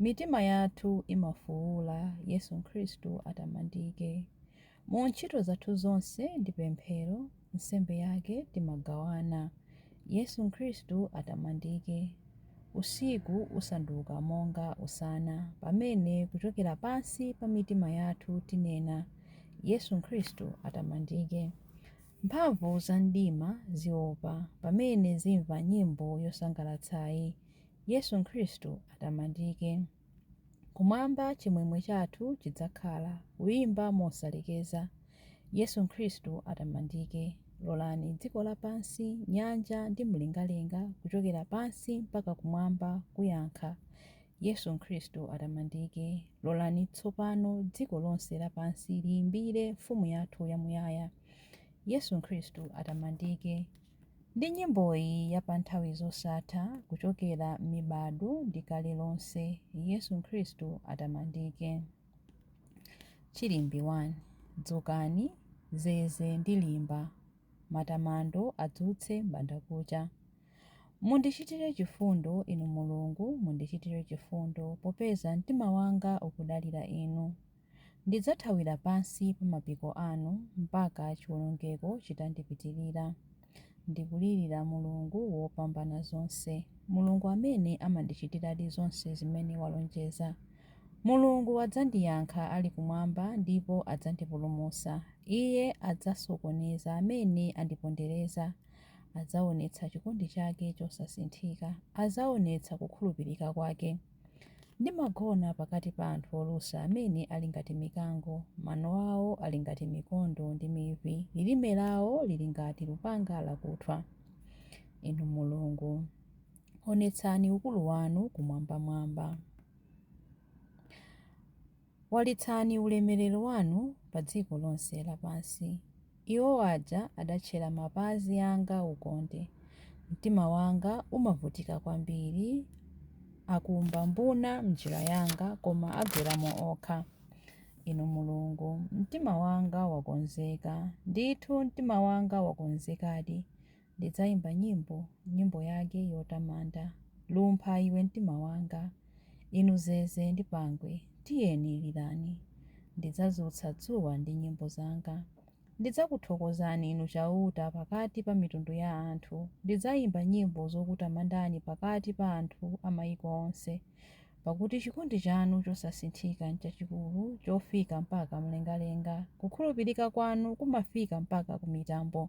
Mitima yathu imafuula, Yesu Khristu atamandike. Mu ntchito zathu zonse ndi pemphero, nsembe yake timagawana, Yesu Khristu atamandike. Usiku usanduka monga usana, pamene kuchokera pansi pa mitima yathu tinena, Yesu Khristu atamandike. Mphamvu za mdima ziopa, pamene zimva nyimbo yosangalatsayi, Yesu Khristu atamandike. Kumwamba chimwemwe chathu chidzakhala, kuyimba mosalekeza. Yesu Khristu atamandike. Lolani dziko lapansi, nyanja ndi mlengalenga kuchokera pansi mpaka kumwamba kuyankha, Yesu Khristu atamandike. Lolani tsopano dziko lonse lapansi liyimbire Mfumu yathu yamuyaya. Yesu Khristu atamandike. Ndi nyimboyi ya pa nthawi zosatha, kuchokera m'mibado ndi kale lonse, Yesu Khristu atamandike. Chilimbi 1. Dzukani, zeze ndi limba, Matamando adzutse m'bandakucha. Mundichitire chifundo, Inu Mulungu, mundichitire chifundo, Popeza mtima wanga ukudalira Inu. Ndidzathawira pansi pa mapiko anu mpaka chiwonongeko chitandipitirira. Ndikulirira Mulungu Wopambanazonse, Mulungu amene amandichitiradi zonse zimene walonjeza. Mulungu adzandiyankha ali kumwamba ndipo adzandipulumutsa. Iye adzasokoneza amene andipondereza. Adzaonetsa chikondi chake chosasinthika. Adzaonetsa kukhulupirika kwake. Ndimagona pakati pa anthu olusa amene ali ngati mikango. Mano awo ali ngati mikondo ndi mivi. Lilime lawo lili ngati lupanga lakuthwa. Inu Mulungu, onetsani ukulu wanu kumwambamwamba. Walitsani ulemerero wanu pa dziko lonse lapansi. Iwo aja adatchera mapazi anga ukonde, mtima wanga umavutika kwambiri, akumba mbuna m'njira yanga, koma agweramo okha. Inu Mulungu, mtima wanga wakonzeka, ndithu mtima wanga wakonzekadi, Ndidzaimba nyimbo, nyimbo yake yotamanda. Lumpha iwe mtima wanga. Inu zeze ndi pangwe, tiyeni lirani. Ndidzadzutsa dzuwa ndi nyimbo zanga. Ndidzakuthokozani Inu Chauta pakati pa mitundu ya anthu. Ndidzaimba nyimbo zokutamandani pakati pa anthu a maiko onse. Pakuti chikondi chanu chosasinthika nchachikulu, chofika mpaka mlengalenga. Kukhulupirika kwanu kumafika mpaka ku mitambo.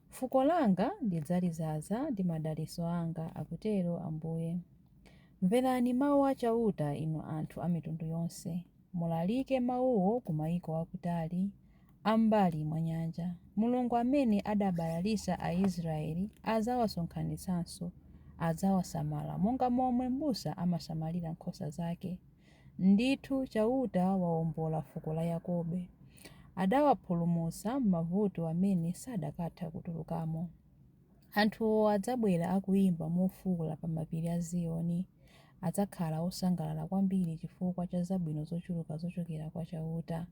Fuko langa ndidzalizaza ndi madalitso anga, akutero Ambuye. Mverani mau a Chauta inu anthu a mitundu yonse, mulalike mauwo ku maiko akutali, a m'mbali mwa nyanja. Mulungu amene adabalalitsa Aisraele adzawasonkhanitsanso, adzawasamala monga momwe mbusa amasamalira nkhosa zake. Ndithu, Chauta waombola fuko la Yakobe, adawapulumutsa m'mavuto amene sadakatha kutulukamo. Anthuwo adzabwera akuimba mofuula pa mapiri a Ziyoni. Adzakhala osangalala kwambiri chifukwa cha zabwino zochuluka zochokera kwa Chauta.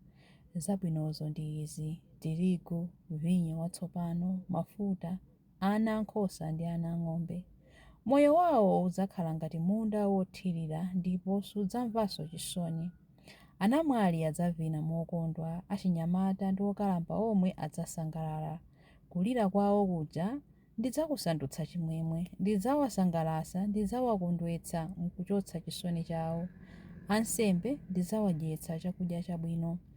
Zabwinozo ndi izi, tirigu, vinyo watsopano, mafuta, ana a nkhosa ndi ana a ng'ombe. Moyo wawo udzakhala ngati munda wothirira ndipo sudzamvanso chisoni. Anamwali adzavina mokondwa, achinyamata ndi okalamba omwe adzasangalala. Kulira kwawo kuja ndidzakusandutsa chimwemwe. Ndidzawasangalatsa, ndidzawakondwetsa n'kuchotsa chisoni chawo. Ansembe ndidzawadyetsa chakudya chabwino.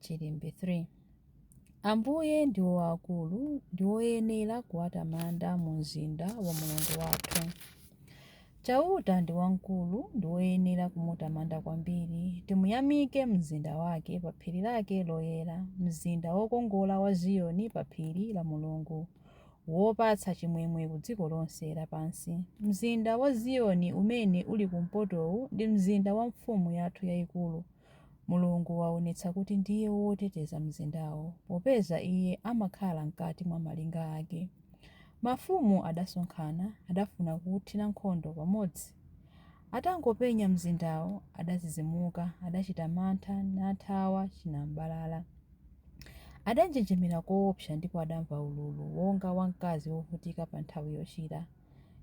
Chilimbe 3. Ambuye ndiwo aakulu ndi woyenera kuwatamanda mu mzinda wa Mulungu wathu. Chauta ndi wamkulu ndi woyenera kumutamanda kwambiri. Timuyamike m'mzinda wake, pa phiri lake loyera, mzinda wokongola wa Ziyoni, pa phiri la Mulungu, wopatsa chimwemwe ku dziko lonse lapansi. Mzinda wa Ziyoni umene uli kumpotowu ndi mzinda wa Mfumu yathu yaikulu, Mulungu waonetsa kuti ndiye woteteza mzindawo, popeza Iye amakhala m'kati mwa malinga ake. Mafumu adasonkhana, adafuna kuuthira nkhondo pamodzi. Atangopenya mzindawo, adadzidzimuka, adachita mantha, nathawa chinam'balala. Adanjenjemera koopsa ndipo adamva ululu wonga wa mkazi wovutika pa nthawi yochira.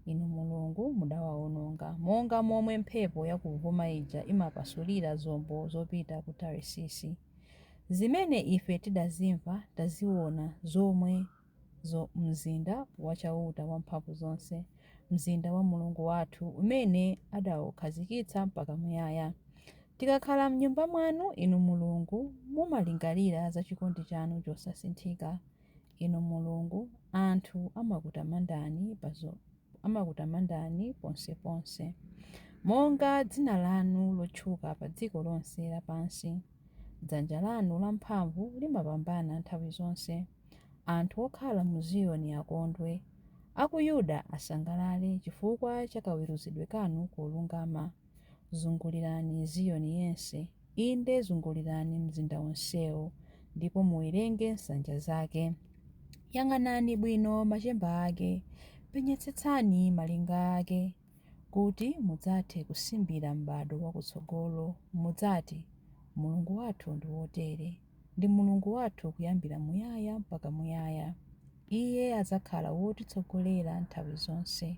Inu Mulungu mudawawononga, monga momwe mphepo yakuvuma ija imapasulira zombo zopita ku Tarisisi. Zimene ife tidazimva, taziwona, zomwezo m'mzinda wa Chauta Wamphamvuzonse, mzinda wa Mulungu wathu, umene adaukhazikitsa mpaka muyaya. Tikakhala m'Nyumba mwanu, Inu Mulungu, mumalingalira za chikondi chanu chosasinthika. Inu Mulungu, anthu amakutamandani ponseponse. Monga dzina lanu lotchuka pa dziko lonse lapansi, dzanja lanu lamphamvu limapambana nthawi zonse. Anthu okhala mu Ziyoni akondwe, a ku Yuda asangalale chifukwa cha kaweruzidwe kanu kolungama. Zungulirani Ziyoni yense, inde zungulirani mzinda wonsewo, ndipo muwerenge nsanja zake. Yang'anani bwino machemba ake, penyetsetsani malinga ake, kuti mudzathe kusimbira m'bado wakutsogolo, mudzati, Mulungu wathu ndi wotere, ndi Mulungu wathu kuyambira muyaya mpaka muyaya, Iye adzakhala wotitsogolera nthawi zonse.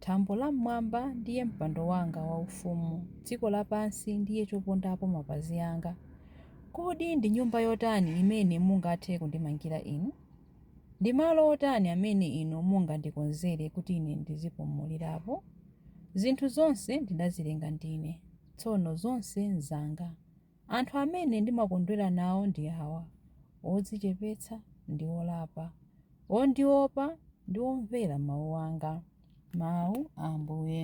Thambo la m'mwamba ndiye mpando wanga waufumu, dziko lapansi ndiye chopondapo mapazi anga. Kodi ndi nyumba yotani imene mungathe kundimangira inu? Ndi malo otani amene inu mungandikonzere kuti ine ndizipumulirapo? Zinthu zonse ndinazilenga ndine, tsono zonse nzanga. Anthu amene ndimakondwera nawo ndi awa, odzichepetsa ndi olapa, ondiopa ndi omvera mawu anga. Mawu a Ambuye.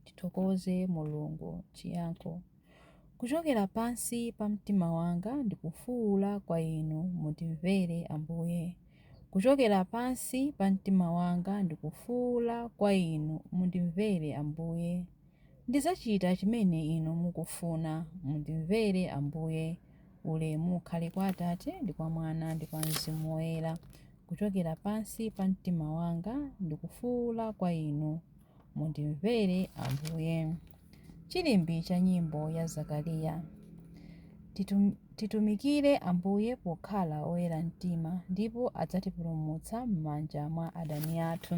Tithokoze Mulungu. Chiyankho Kuchokera pansi pa mtima wanga ndikufuula kwa Inu, mundimvere, Ambuye. Kuchokera pansi pa mtima wanga ndikufuula kwa Inu, mundimvere, Ambuye. Ndidzachita chimene Inu mukufuna. Mundimvere, Ambuye. Ulemu ukhale kwa Atate, ndi kwa Mwana, ndi kwa Mzimu Woyera. Kuchokera pansi pa mtima wanga ndikufuula kwa Inu. Mundimvere, Ambuye. Chilimbi cha nyimbo ya Zakariya. Titumikire Ambuye pokhala oyera mtima, ndipo adzatipulumutsa m'manja mwa adani athu.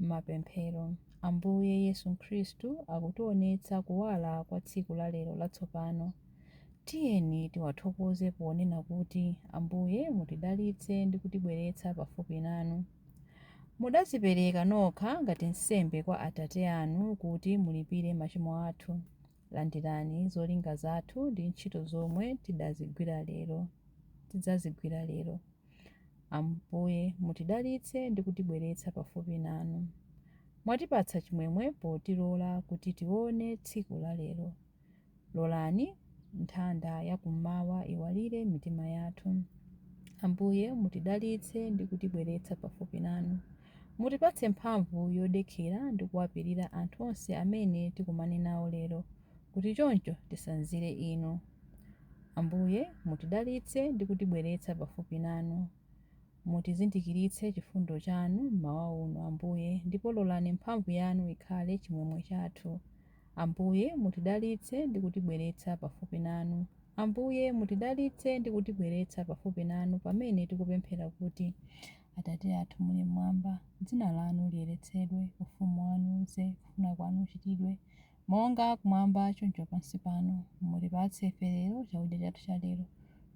Mapemphero. Ambuye Yesu Khristu akutionetsa kuwala kwa tsiku la lero latsopano. Tiyeni tiwathokoze ponena kuti, Ambuye mutidalitse ndi kutibweretsa pafupi nanu. Mudadzipereka nokha ngati nsembe kwa Atate anu kuti mulipire machimo athu. Landirani zolinga zathu ndi ntchito zomwe tidazigwira lero, tidzazigwira lero. Ambuye, mutidalitse ndi kutibweretsa pafupi nanu. Mwatipatsa chimwemwe potilola kuti tione tsiku la lero. Lolani nthanda ya kummawa iwalire mitima yathu. Ambuye, mutidalitse ndi kutibweretsa pafupi nanu. Mutipatse mphamvu yodekhera ndi kuwapirira anthu onse amene tikumane nawo lero kuti choncho tisanzire Inu. Ambuye, mutidalitse ndi kutibweretsa pafupi nanu. Mutizindikiritse chifundo chanu m'mawa uno, Ambuye, ndipo lolani mphamvu yanu ikhale chimwemwe chathu. Ambuye, mutidalitse ndi kutibweretsa pafupi nanu. Ambuye, mutidalitse ndi kutibweretsa pafupi nanu pamene tikupemphera kuti, Atate athu muli m'mwamba, dzina lanu liyeretsedwe, ufumu wanu udze, kufuna kwanu kuchitidwe, monga kumwamba choncho pansi pano, mutipatse ife lero chakudya chathu cha lero,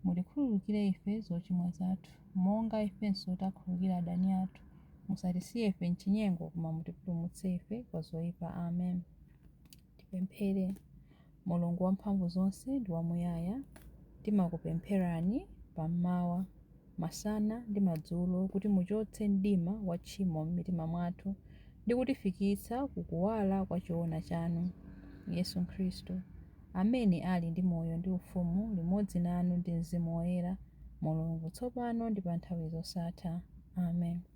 mutikhululukire ife zochimwa zathu, monga ifenso takhululukira adani athu, musatisiye ife m'chinyengo koma mutipulumutse ife kwa zoipa, Amen. Tipemphere. Mulungu wamphamvu zonse ndi wamuyaya, timakupempherani pa m'mawa, masana ndi madzulo kuti muchotse mdima wa tchimo m'mitima mwathu ndi kutifikitsa ku kuwala kwa choona chanu. Yesu Khristu, amene ali ndi moyo ndi ufumu limodzi nanu ndi Mzimu Woyera, Mulungu, tsopano ndi pa nthawi zosatha. Amen.